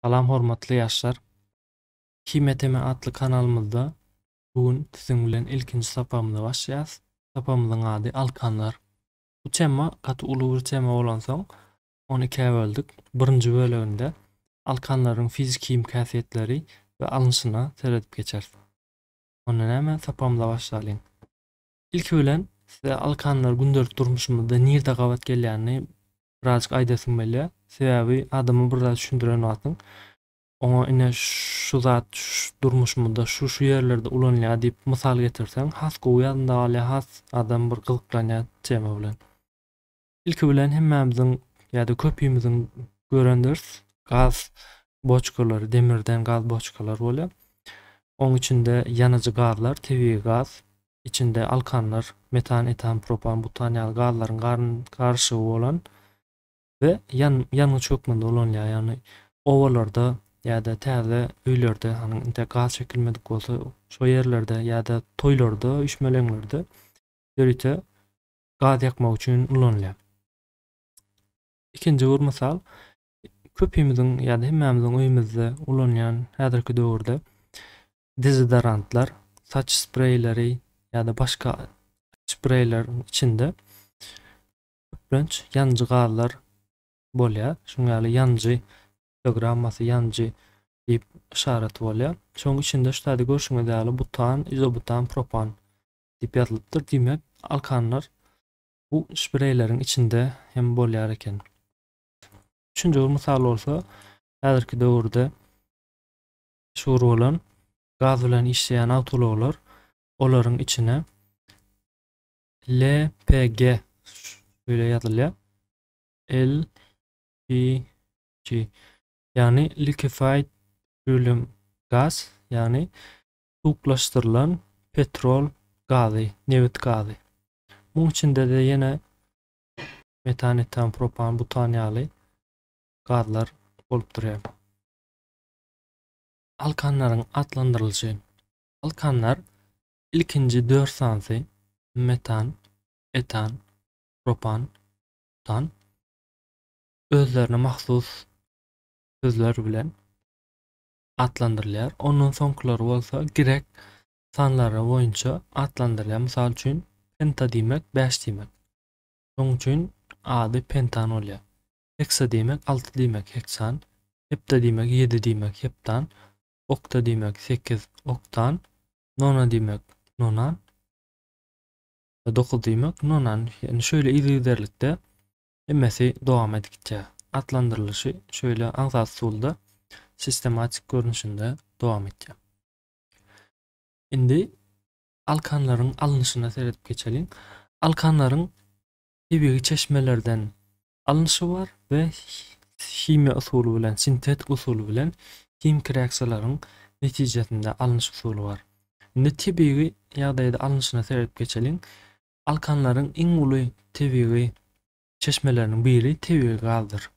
Salam hormatly ýaşlar! Himiýa teme atly kanalymyzda bu gün siziň bilen ilkinji sapagymyza başlaýas. Sapagymyzyň ady Alkanlar. Bu tema gaty uly bir tema bolansoň, ony ikä böldük. Birinji böleginde alkanlaryň fiziki-himiki häsiýetleri we alnyşyna seredip geçeris. Onda näme, sapagymyza başlalyň. Ilki bilen size alkanlar gündelik durmuşymyzda nirde gabat gelýänini birazjyk aýdasyň gelýä. Sebäbi adama bir zat düşündiren wagtyň oňa ine şu zat durmuşymyzda şu şu ýerlerde ulanylýar diýip mysal getirseň has gowy ýadynda galýar, has adam bir gyzyklanýar tema bilen. Ilki bilen hemmämiziň ýa-da köpimiziň görendiris, gaz boçkalary, demirden gaz boçkalar bolýar. Oň içinde ýanyjy gazlar, tebigy gaz, içinde alkanlar, metan, etan, propan, butan ýaly gazlaryň garyşygy bolan we ýangyç hökmünde ulanylýar. Ýagny obalarda ýa-da täze öýlerde, hany intäk gaz çekilmedik bolsa, şo ýerlerde ýa-da toýlarda, üýşmeleňlerde ýörite gaz ýakmak üçin ulanylýar. Ikinji bir mysal, köpimiziň ýa-da hemmämiziň öýümizde ulanýan häzirki döwürde dezodorantlar, saç spreýleri ýa-da başga spreýleriň içinde köplenç ýanyjy gazlar bolýar. Şunuň ýaly ýanyjy piktogrammasy, ýanyjy diýip yşaraty bolýar. Şonuň içinde şu taýda görşüňiz ýaly butan, izobutan, propan diýip ýazylypdyr. Diýmek, alkanlar bu spreýleriň içinde hem bolýar eken. Üçünji bir mysal bolsa, häzirki döwürde meşhur bolan gaz bilen işleýän awtoulaglar, olaryň içine LPG şeýle ýazylýar. LPG ýagny liquefied petroleum gas ýagny suwuklaşdyrylan petrol gazy, nebit gazy. Muň içinde-de ýene metan, etan, propan, butan ýaly gazlar bolup durýar. Alkanlaryň atlandyrylyşy Alkanlar ilkinji dört sanysy, metan, etan, propan, butan, özlerine mahsus sözler bilen atlandyrylýar. Ondan soňkylary bolsa grek sanlary boýunça atlandyrylýar. Mysal üçin, penta diýmek bäş diýmek. Şonuň üçin ady pentan bolýar. Heksa diýmek alty diýmek heksan, hepta diýmek ýedi diýmek heptan, okta diýmek sekiz oktan, nona diýmek nonan, dokuz diýmek nonan ýagny şeýle yzygiderlikde hemmesi dowam edip gitýär. Atlandyrylyşy şeýle aňsat usulda sistematik görnüşinde dowam etýär. Indi alkanlaryň alnyşyna seredip geçeliň. Alkanlaryň tebigy çeşmelerden Alnyşy bar we himiýa usuly bilen, sintetik usuly bilen himiki reaksiýalaryň netijesinde alnyş usuly bar. Indi tebigy ýagdaýda alnyşyna seredip geçeliň. Alkanlaryň iň uly tebigy çeşmeleriniň biri tebigy gazdyr.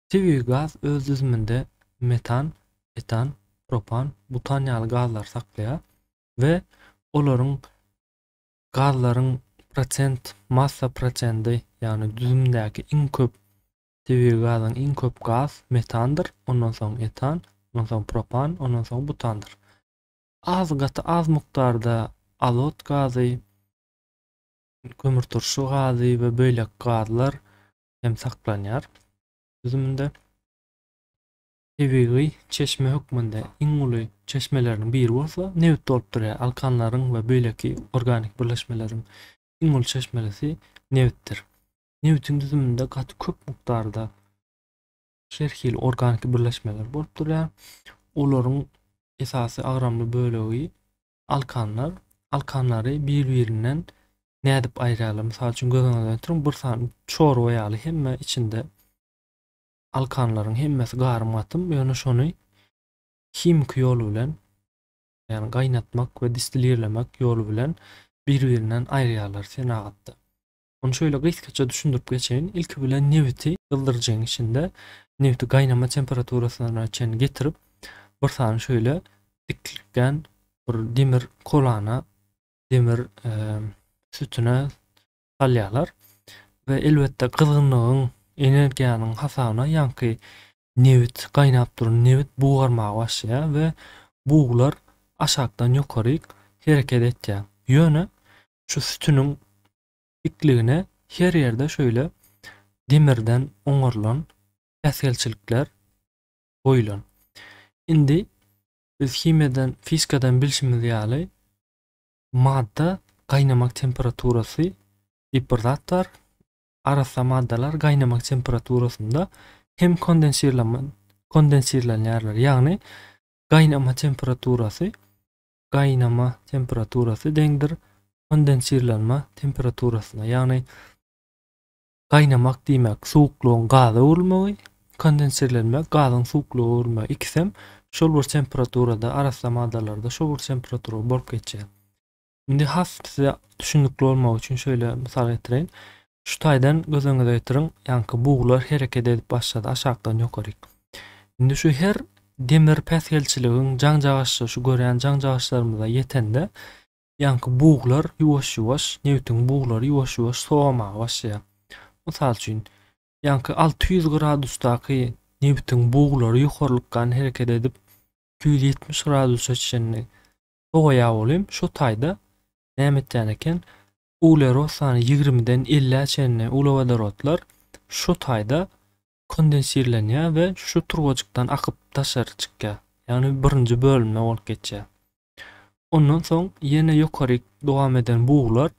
Tebigy gaz öz düzüminde metan, etan, propan, butan ýaly gazlary saklaýar we olaryň gazlaryň prosent massa prosendi, ýagny düzümdäki iň köp tebigy gazyň iň köp gaz metandyr, ondan soň etan, ondan soň propan, ondan soň butandyr. Az gaty az mukdarda azot gazy, kömürturşy gazy we beýleki gazlar hem saklanýar düzüminde. tebigy çeşme hökmünde iň uly çeşmeleriniň biri bolsa nebit bolup durýar. Alkanlaryň we beýleki organik birleşmeleriň iň uly çeşmelisi nebitdir. Nebitiň düzüminde gaty köp mukdarda her hili organik birleşmeler bolup durýar. Olaryň esasy agramly bölegi alkanlar. Alkanlary bir-birinden nädip aýyrýarlar? Mysal üçin göz öňüňize getiriň, bir sany çorba ýaly hemme içinde Alkanlaryň hemmesi garym-gatym, ýöne şony himiki ýol bilen, ýagny gaýnatmak we distilirlemek ýoly bilen bir-birinden aýyrýarlar senagatda. Ony şeýle gysgaça düşündirip geçeýin, ilki bilen nebiti gyzdyryjyň içinde nebiti gaýnama temperaturasyna çenli getirip, bir sany şeýle diklikgän bir demir kolana, demir sütüne salýarlar we elbetde gyzgynlygyň, energiýanyň hasabyna ýaňky nebit, gaýnap duran nebit bugarmaga başlaýar we buglar aşakdan ýokaryk hereket etýär. Ýöne şu sütüniň dikligine her ýerde şöyle demirden oňarylan päsgelçilikler goýulan. Indi biz himiýadan, fizikadan bilşimiz ýaly, Madda gaýnamak temperaturasy diýip bir zat bar. Arassa maddalar gaýnamak temperaturasynda hem kondensirlenme kondensirlenýärler. Ýagny gaýnama temperaturasy gaýnama temperaturasy deňdir kondensirlenme temperaturasyna. Ýagny Gaýnamak diýmek suwuklygyň gaza öwrülmegi, kondenserlenmek gazyň suwuklyga öwrülmegi ikisem şol bir temperaturada arassa maddalarda şol bir temperatura bolup geçýär. Indi has size düşünikli bolmagy üçin şöyle mysal getireýin. Şu taýdan göz öňüňize getiriň, ýaňky buglar hereket edip başlady aşakdan ýokaryk. Indi şu her demir päsgelçiligiň jaňjagaşja şu görýän jaňjagaşlarymyza ýetende Ýaňky buglar ýuwaş-ýuwaş, nebitiň buglary ýuwaş-ýuwaş sowamaga başlaýar. Mysal üçin, ýaňky alty ýüz gradusdaky nebitiň buglary ýokarlykgan hereket edip, iki ýüz ýetmiş gradusa çenli sowaýar welin, şo taýda näme etýän eken, uglerod sany ýigrimiden elläe çenli uglewodorodlar şo taýda kondensirlenýär we şu turbajykdan akyp daşary çykýar. Ýagny birinji bölümden bolup geçýär. Ondan soň ýene ýokaryk dowam eden buglar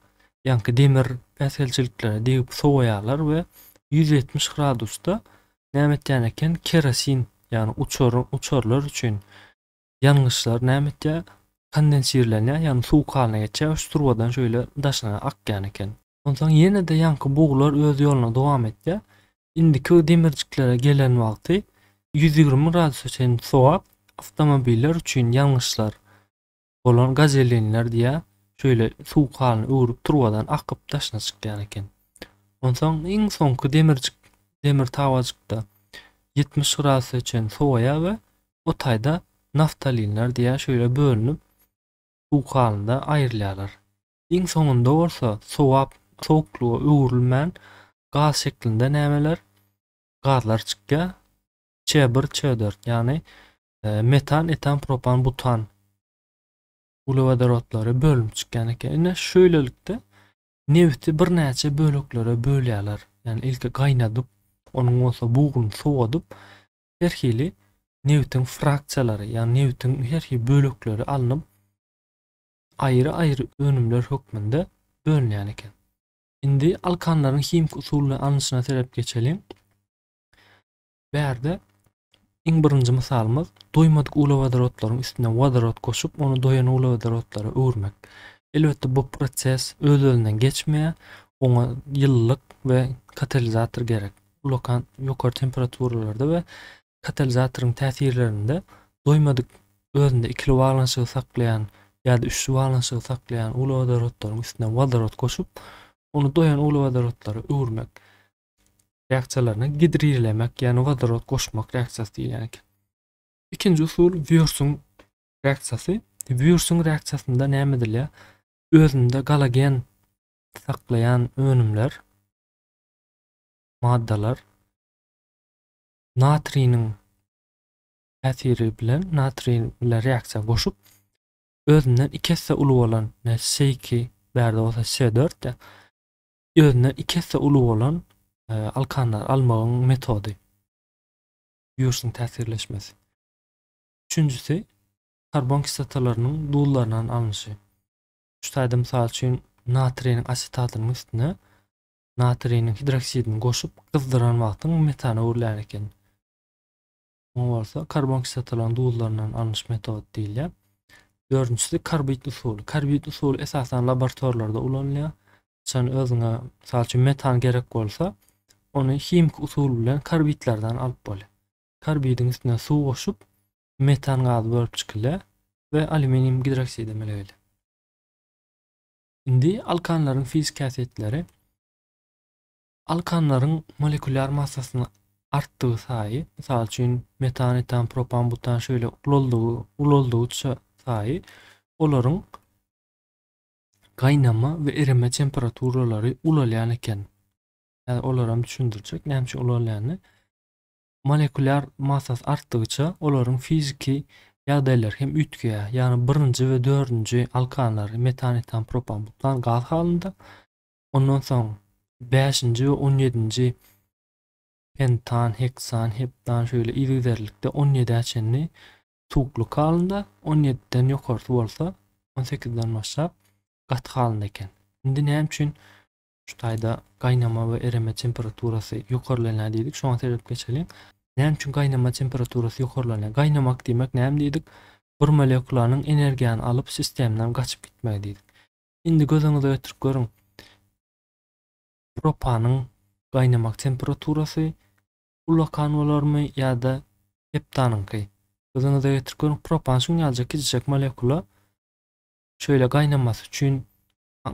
ýaňky demir päsgelçiliklere degip sowaýarlar we ýüz ýetmiş gradusda näme etýän eken kerosin ýagny uçar uçarlar üçin ýangyçlar näme etýär kondensirlenýär ýagny suwuk halyna geçýär şu turbadan şeýle daşyna akýan eken. Onsoň ýene-de ýaňky buglar öz ýoluna dowam etýär. Indiki demirjiklere gelen wagty ýüz ýigrimi gradusa çenli sowap awtomobiller üçin ýangyçlar bolan gazelinler diýýär, şeýle suw kalyny öwrüp turbadan akyp daşyna çykýan eken. Onsoň iň soňky demirjik demir tabajykda ýetmiş gradusa çenli sowaýar we o taýda naftalinler diýýär, şeýle bölünip suw kalynda aýrylýarlar. Iň soňunda bolsa sowap sowuklyga öwrülmän gaz şeklinde nämeler, gazlar çykýar. Ç1, Ç4, ýagny metan, etan, propan, butan uglewodorodlary bölünip çykýan eken. Ine şöýlelikde nebiti birnäçe böleklere bölýärler. Ýagny ilki gaýnadyp, onuň bolsa buguny sowadyp, her hili nebitiň fraksiýalary, ýagny nebitiň her hili bölekleri alnyp, aýry-aýry önümler hökmünde bölünýän eken. Indi alkanlaryň himiki usul bilen alnyşyna serep geçeliň. Bärde iň birinji mysalymyz doýmadyk uglewodorotlaryň üstüne wodorod goşup, ony doýan uglewodorotlara öwürmek. Elbetde bu proses öz-özünden geçmeýär, oňa ýylylyk we katalizator gerek. Ulakan ýokary temperaturalarda we katalizatoryň täsirlerinde doýmadyk özünde ikili baglanyşygy saklaýan ýa-da üçli baglanyşygy saklaýan uglewodorodlaryň üstüne wodorod goşup, ony doýan uglewodorodlara öwürmek reaksiýalaryna gidrirlemek, ýagny wodorod goşmak reaksiýasy diýilýän eken. Ikinji usul Wýursuň reaksiýasy. Wýursuň reaksiýasynda näme edilýär? Özünde galagen saklaýan önümler, maddalar natriniň täsiri bilen natriý bilen reaksiýa goşup özünden iki esse uly bolan S2 bärde bolsa S4 de özünden iki esse uly bolan e, alkanlar almagyň metody ýurşyň täsirleşmesi üçünjisi karbon kislotalarynyň duzlaryndan alnyşy şu taýda mysal üçin natriýniň asetatynyň üstüne natriniň hidroksidini goşup gyzdyran wagtyň metana öwrülýän eken. Muňa bolsa karbon kislotalaryň duzlaryndan alnyş metod diýilýär. Dördünjisi karbid usuly. Karbid usuly esasan laboratoriýalarda ulanylýar. Haçan özüňe, mysal üçin, metan gerek bolsa, ony himiki usul bilen karbidlerden alyp bolýar. Karbidiň üstüne suw goşup, metan gazy bölüp çykylýar we alýuminium gidroksidi emele gelýär. Indi alkanlaryň fiziki häsiýetleri. Alkanlaryň molekulýar massasyny artdygy saýy, mysal üçin, metan, etan, propan, butan şeýle ulaldygy, ulaldygyça saýy olaryň gaýnama we ereme temperaturalary ulalýan eken. Häzir olar hem düşündirjek näme üçin ulalýanyny. Molekulýar massasy artdygyça olaryň fiziki ýagdaýlary hem üýtgeýär, ýagny birinji we dördünji alkanlary metan, etan, propan, butan gaz halynda, ondan soň bäşinji we on ýedinji pentan, heksan, heptan şeýle yzygiderlikde on ýedä çenli suwuklyk halynda, on ýediden ýokarsy bolsa, on sekizden başlap gaty halynda eken. Indi näme üçin Şu taýda gaýnama we ereme temperaturasy ýokarlanýar diýdik. Şoňa seredip geçeliň. Näme üçin gaýnama temperaturasy ýokarlanýar? Gaýnamak diýmek näme diýdik? Bir molekulanyň energiýany alyp sistemden gaçyp gitmegi diýdik. Indi göz öňüňize getirip görüň. Propanyň gaýnamak temperaturasy ullakan bolarmy ýa-da heptanyňky? Göz öňüňize getirip görüň. Propan şuňňaljak kiçijek molekula şöyle gaýnamasy üçin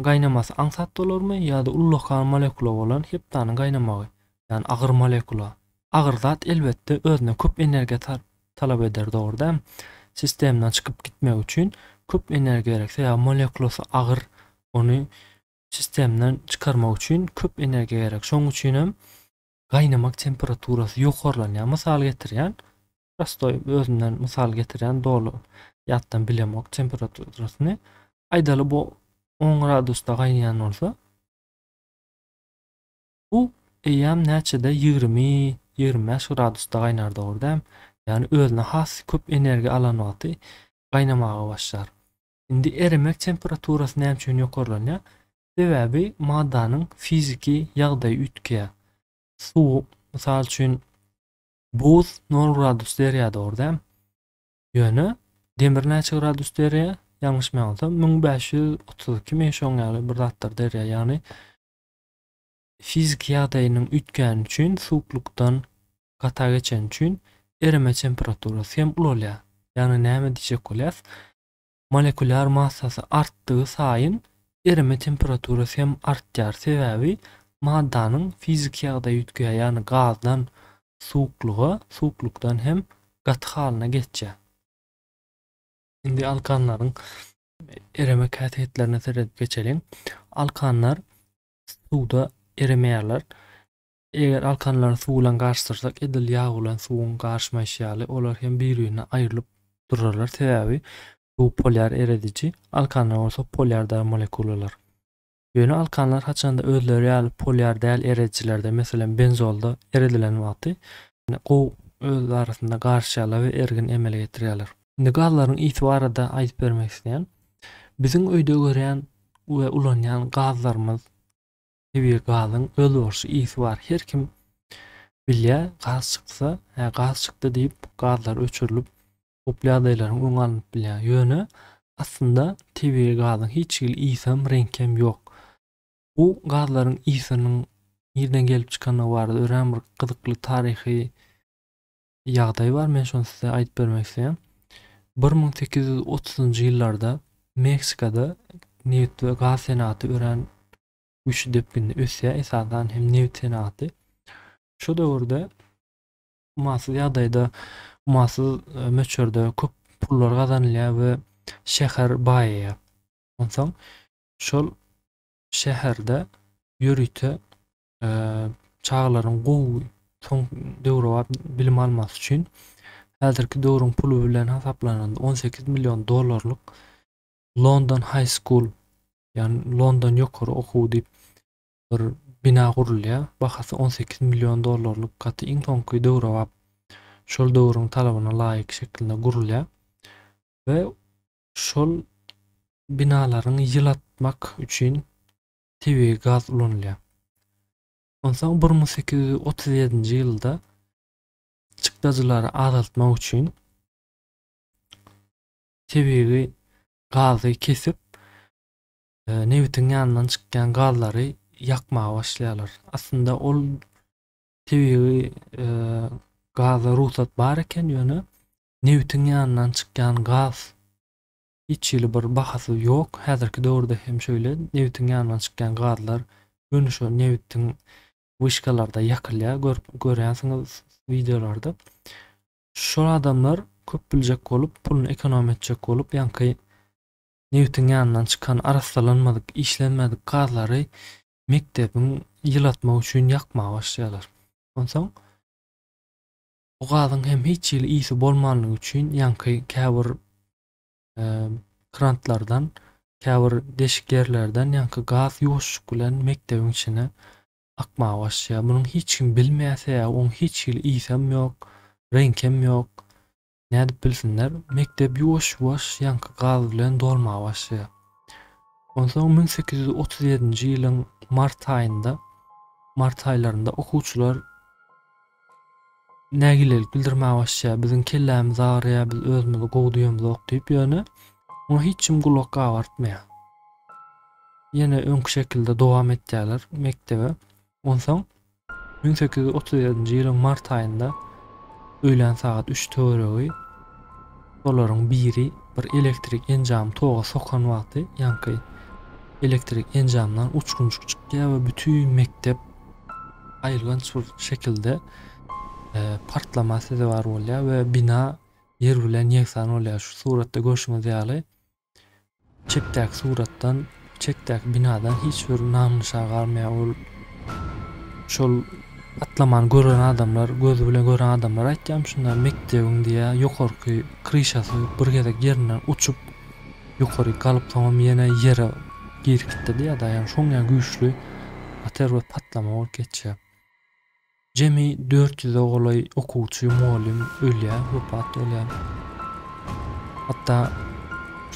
Gaýnamasy aňsat bolarmy ýa-da ullakan molekula bolan heptanyň gaýnamagy, ýagny agyr molekula? Agyr zat elbetde özüne köp energiýa talap eder dogry dämi? Sistemdan çykyp gitmegi üçin köp energiýa gerek sebäbi molekulasy agyr ony sistemdan çykarmak üçin köp energiýa gerek şoň üçinem gaýnamak temperaturasy ýokarlanýar. Mysal getirýän, prostoý özümden mysal getirýän doly ýatdan bilemok temperaturasyny. Aýdaly bu 10 gradusda gaýnaýan bolsa, bu eýýäm näçede 20-25 gradusda gaýnar dogry däm. Ýagny özüne has köp energiýa alan wagty gaýnamaga başlar. Indi eremek temperaturasy näme üçin ýokarlanýar? Sebäbi maddanyň fiziki ýagdaýy üýtgeýär. Suw, mysal üçin, buz nol gradus derýada bar däl. Ýöne demir näçe gradus derýa? Ýalňyşmaýansam, müň bäş ýüz otuz ikimi şoň ýaly bir zatdyr derýa. Ýagny fiziki ýagdaýynyň üýtgäni üçin, suwuklykdan gata geçeni üçin ereme temperaturasy hem ulalýar. Ýagny näme diýjek bolýas? Molekular massasy artdygy saýyn erime temperaturasy hem artýar, sebäbi maddanyň fiziki ýagdaýy üýtgeýär, ýagny gazdan suwuklyga, suwuklykdan hem gaty halyna geçýär. Indi alkanlaryň erime käsýetlerine seredip geçeliň. Alkanlar suwda eremeýärler. Eger alkanlary suw bilen garyşdyrsak, edil ýag bilen suwuň garyşmaýşy ýaly, olar hem bir-birine aýrylyp durarlar, sebäbi suw polýar erediji, alkanlar bolsa polýar dar molekulalar. Ýöne alkanlar haçanda özleri ýaly polýar däl eredijilerde, meselem, benzolda eredilen wagty, ýene gowy öz arasynda garyşýarlar we ergin emele getirýärler. Indi gazlaryň ysy barada aýdyp bermek isleýän. Biziň öýde görýän we ulanýan gazlarymyz Tebigy gazyň özboluşly ysy bar. Her kim bilýär, gaz çyksa, hä, gaz çykdy diýip, gazlar öçürilip, howply ýagdaýlaryň öňi alnyp bilýär. Ýöne, aslynda, tebigy gazyň hiç hili ysam, reňkem ýok. Bu gazlaryň ysynyň nirden gelip çykandygy barada örän bir gyzykly taryhy ýagdaý bar. Men şony size aýdyp bermek isleýän. Bir müň sekiz ýüz otuzynjy ýyllarda Meksikada neft we gaz senagaty örän güýçli depginde ösýär, esasan hem nebit senagaty. Şu döwürde umasyz ýagdaýda, umasyz e, möçberde köp pullar gazanylýar we şäher baýaýar. Onsoň şol şäherde ýörite e, çagalaryň gowy soň döwrebap bilim almasy üçin häzirki döwrüň puly bilen hasaplananda 18 million dollarlyk London High School, ýagny London ýokary okuwy diýip bir bina gurulýar. Bahasy on sekiz million dollarlyk gaty iň soňky döwrebap şol döwrüň talabyna laýyk şekilde gurulýar we şol binalaryň ýylatmak üçin tebigy gaz ulanylýar. Onsoň bir müň sekiz ýüz otuz ýedinji ýylda çykdajylary azaltmak üçin tebigy gazy kesip, nebitiň ýanyndan çykýan gazlary ýakmaga başlaýarlar. Aslynda ol tebigy gaza rugsat bar eken, ýöne nebitiň ýanyndan çykýan gaz hiç hili bir bahasy ýok. Häzirki döwürde hem şöyle nebitiň ýanyndan çykýan gazlar göni şo nebitiň wişkalarda ýakylýar, görüp görýänsiňiz wideolarda. Şol adamlar köp biljek bolup, puluny ekonom etjek bolup, ýaňky nebtiň ýanyndan çykan arassalanmadyk, işlenmedik gazlary mekdebiň ýylatmak üçin ýakmaga başlaýarlar. Onsoň bu gazyň hem hiç hili ysy bolmanlygy üçin ýaňky käbir krantlardan, käbir deşik ýerlerden ýaňky gaz ýuwaşjyk bilen mekdebiň içine akmaga başlaýar. Munuň hiç kim bilmeýärse, oň hiç hili ysam ýok, reňkem ýok. Nädip bilsinler? Mekdep ýuwaş-ýuwaş ýaňky gaz bilen dolmaga başlaýar. Onsoň müň sekiz ýüz otuz ýedinji ýylyň mart aýynda, mart aýlarynda okuwçylar nägilelik bildirmäge başlaýar, biziň kellämiz agyrýar, biz özümizi gowy duýamzok diýip, ýöne muňa hiç kim gulak gabartmaýar. Ýene öňki şekilde dowam etýärler mekdebe. Onsoň 1837-nji ýylyň mart aýynda öýlän sagat 3 töweregi olaryň biri bir elektrik enjamy toga sokan wagty ýaňky elektrik enjamyndan uçgunjyk çykýar we bütin mekdep aýylganç bir şekilde e, partlama sezewar bolýar we bina ýer bilen ýegsan bolýar. Şu suratda görşüňiz ýaly çepdäki suratdan çekdäki binadan hiç bir nam nyşan galmaýar. Ol şol atlamany gören adamlar, gözi bilen gören adamlar aýtýarmyşynlar mekdebiň diýä ýokarky kryşasy bir gezek ýerinden uçup Ýokaryk galyp soňam ýene ýere girip gitdi-de ýa-da ýa şoň ýa güýçli ater we patlama bolup geçýär. Jemi dört ýüze golaý okuwçy, mugallym ölýär, wepat bolýar. Hatda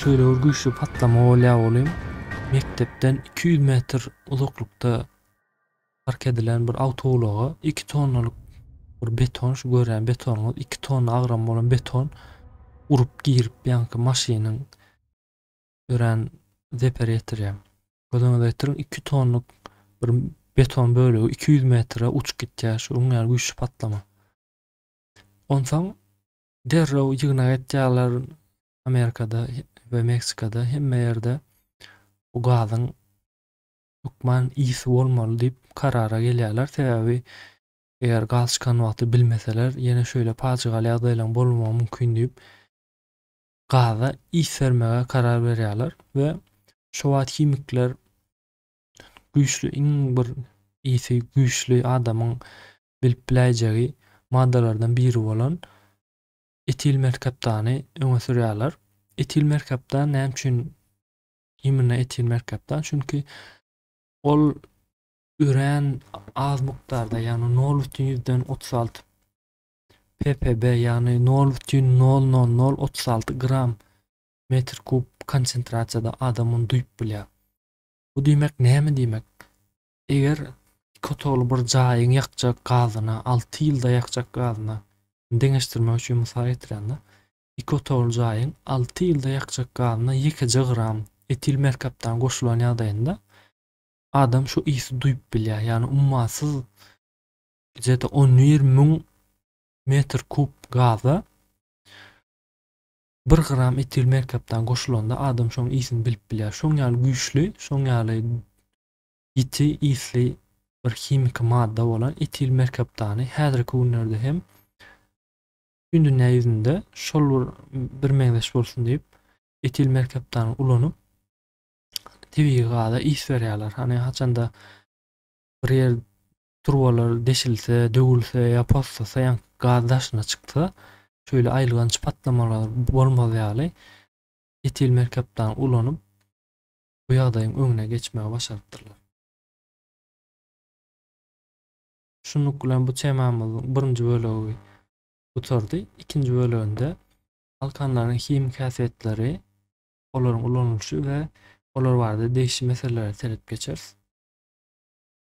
şöyle bir güýçli patlama bolýar olim mekdepden 200 metr uzaklykda Park edilen bir awtoulaga iki tonnalyk bir beton, şu görýän betonyňyz iki tonna agram bolan beton urup girip ýaňky maşynyň örän zeper ýetirýär. Göz öňüňize getiriň, iki tonlyk bir beton bölegi iki ýüz metre uçup gitýär, şuň ýaly güýçli patlama. Onsoň derrew ýygnak etýärler Amerikada we Meksikada hemme ýerde bu gazyň hökman ýiti bolmaly diýip karara gelýärler. Sebäbi eger gaz çykan wagty bilmeseler, ýene şeýle pajygaly ýagdaýlaryň bolmagy mümkin diýip, gaza ýit bermäge karar berýärler we şo wagt himikler güýçli iň bir ýiti güýçli adamyň bilip biläýjegi maddalardan biri bolan etil merkaptany öňe sürýärler. Etil merkaptan näme üçin Imine etil merkapdan, çünki ol örän az mukdarda, ýagny nol bütin ýüzden otuz alty ppb, ýagny nol bütin nol nol nol otuz alty gram metr kub konsentrasiýada adam ony duýup bilýär. Bu diýmek näme diýmek? Eger iki otagly bir jaýyň ýakjak gazyna, alty ýylda ýakjak gazyna deňeşdirmek üçin mysal getirende, Iki otagly jaýyň alty ýylda ýakjak gazyna ýekeje gram etil merkaptan goşulan ýagdaýynda adam şu ysy duýup bilýär, ýagny ummasyz gije-de on bir müň metr kub gaza bir gram etil merkapdan goşulanda adam şoň ysyny bilip bilýär. Şoň ýaly güýçli, şoň ýaly ýiti ysly bir himiki madda bolan etil merkaptany häzirki günlerde hem Bütin dünýä ýüzünde şol bir birmeňzeş bolsun diýip, etil merkaptany ulanyp, tebigy gaza is berýärler. Hany, haçanda bir ýer turbalar deşilse, döwülse ýa poslasa, ýaňky gaz daşyna çyksa, şeýle aýylganç patlamalar bolmaz ýaly, etil merkaptany ulanyp, bu ýagdaýyň öňüne geçmegi başarypdyrlar. Şunluk bilen bu temamyzyň birinji bölegi gutardy. Ikinji böleginde galkanlaryň himiki häsiýetleri, olaryň ulanylyşy we olar barada degişli meselelere seredip geçeris.